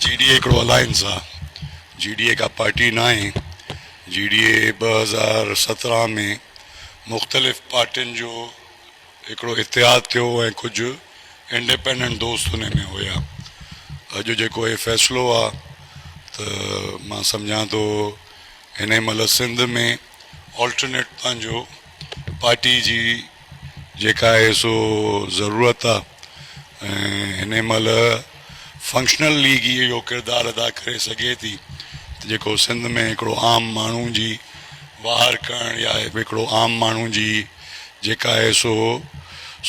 جي D A هڪڙو alliance آ جي ڊي اي ڪا پارٽي ناهي جي ڊي اي ٻه هزار سترهن ۾ مختلف پارٽين جو هڪڙو اتحاد ٿيو ۽ ڪجهه انڊيپنڊنٽ دوست ان ۾ هيا اڄ جيڪو هي فيصلو آ ته مان سمجهان ٿو هني مهل سنڌ ۾ آلٽرنيٽ پنهنجو پارٽي جي جيڪا آهي سو ضرورت آ ۽ هن مهل فنڪشنل ليگ ئي اهو ڪردار ادا ڪري سگهي ٿي ته جيڪو سنڌ ۾ هڪڙو عام ماڻهو جي واهر ڪرڻ يا هڪڙو عام ماڻهو جي جيڪا آهي سو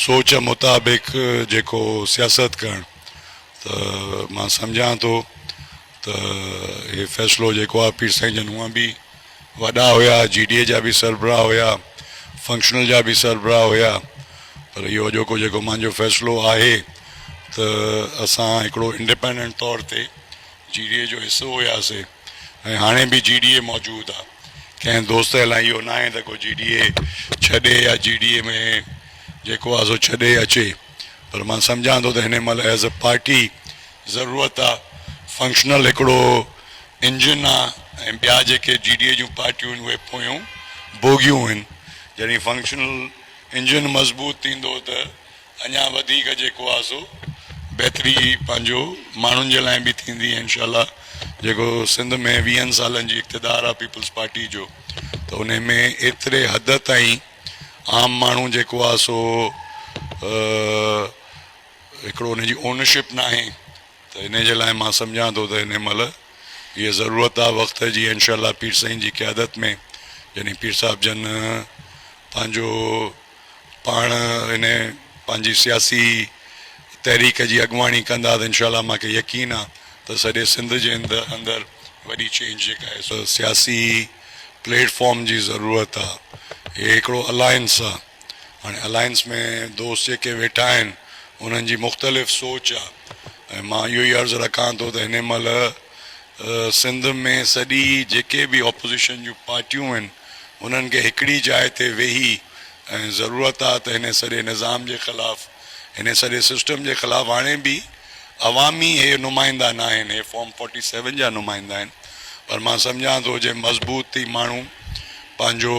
سوچ مطابق جيڪو سياست ڪرڻ ته مان سمجهان ٿو ته هي فيصلو جيڪو آهي پير سائين جن هونئن به وڏا هيا جي ڊي اي جا به سربراهه هيا فنڪشنل جا به سربراهه هيا پر اهو اڄوڪو جيڪو مانجو فيصلو آهي ته اسان هڪڙو انڊيپينڊنٽ طور تي جي ڊي اي جو حصو هياسي ۽ هاڻي به جي ڊي اي موجود آهي ڪنهن دوست لاء اهو نه آهي ته ڪو جي ڊي اي ڇڏي يا جي ڊي اي ۾ جيڪو آهي سو ڇڏي اچي پر مان سمجهان ٿو ته هن مهل ايز اي پارٽي ضرورت آ فنڪشنل هڪڙو انجن آ ۽ ٻيا جيڪي جي ڊي اي جون پارٽيون آهن اهي پويون بوگيون آهن جڏهن فنڪشنل انجن مضبوط ٿيندو ته اڃا وڌيڪ جيڪو آ سو بهتري پنهنجو ماڻهن جي لاء به ٿيندي ۽ انشاء الله جيڪو سنڌ ۾ ويهن سالن جي اقتدار آ پيپلز پارٽي جو ته ان ۾ ايتري حد تائين عام ماڻهو جيڪو آ سو هڪڙو ان جي اونرشپ ناهي ته انهي جي لاء مان سمجهان ٿو ته انهي مهل اهي ضرورت آ وقت جي انشاء الله پير سائين جي قيادت ۾ جڏهن پير صاحب جن پنهنجو پاڻ انهي پنهنجي سياسي تحريڪ جي اڳواڻي ڪندا ته انشاء الله مان کي يقين آ ته سڄي سنڌ جي اندر وڏي چينج جيڪا آهي سو سياسي پليٽ فارم جي ضرورت آ هي هڪڙو الائنس آ. هاڻي الائنس ۾ دوست جيڪي ويٺا آهن انهن جي مختلف سوچ آ ۽ مان اهو ئي عرض رکان ٿو ته هن مهل سنڌ ۾ سڄي جيڪي به اپوزيشن جون پارٽيون آهن انهن کي هڪڙي جاء تي ويهي ۽ ضرورت آ ته هن سڄي نظام جي خلاف هن سڄي سسٽم جي خلاف هاڻي به عوامي هي نمائندا ناهن هي فارم فورٽي سيون جا نمائندا آهن پر مان سمجهان ٿو جي مضبوط ٿي ماڻهو پنهنجو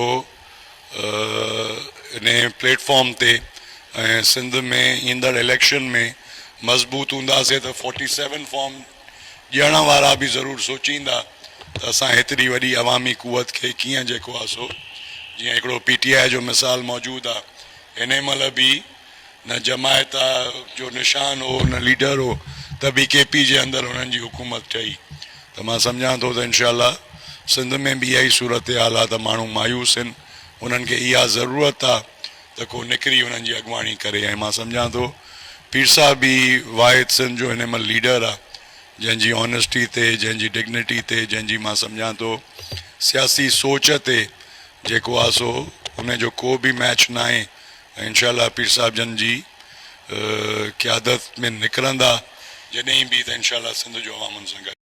انهي پليٽ فارم تي ۽ سنڌ ۾ ايندڙ اليڪشن ۾ مضبوط هونداسين ته فورٽي سيون فارم ڏيڻ وارا به ضرور سوچيندا ته اسان هيتري وڏي عوامي قوت کي ڪيئن جيڪو آهي سو جيئن هڪڙو پي ٽي آء جو مثال موجود آهي انهي مهل به نه جماعت جو نشان هو نه ليڊر هو ته به ڪي پي جي اندر انهن جي حڪومت ٺهي ته مان سمجهان ٿو ته انشاء الله سنڌ ۾ به اها ئي صورتحال آ ته ماڻهو مايوس هن انهن کي اها ضرورت آ ته ڪو نڪري انهن جي اڳواڻي ڪري ۽ مان سمجهان ٿو پير صاحب ئي واحد سنڌ جو هن مهل ليڊر آ جنهن جي آنيسٽي تي جنهن جي ڊگنيٽي تي جنهن جي مان سمجهان ٿو سياسي سوچ تي جيڪو آ سو ان جو ڪو به ميچ ناهي انشاء الله پير صاحب جن جي قيادت ۾ نڪرندا جڏهن به ته انشاء الله سنڌ جو عوام ان سان گڏ.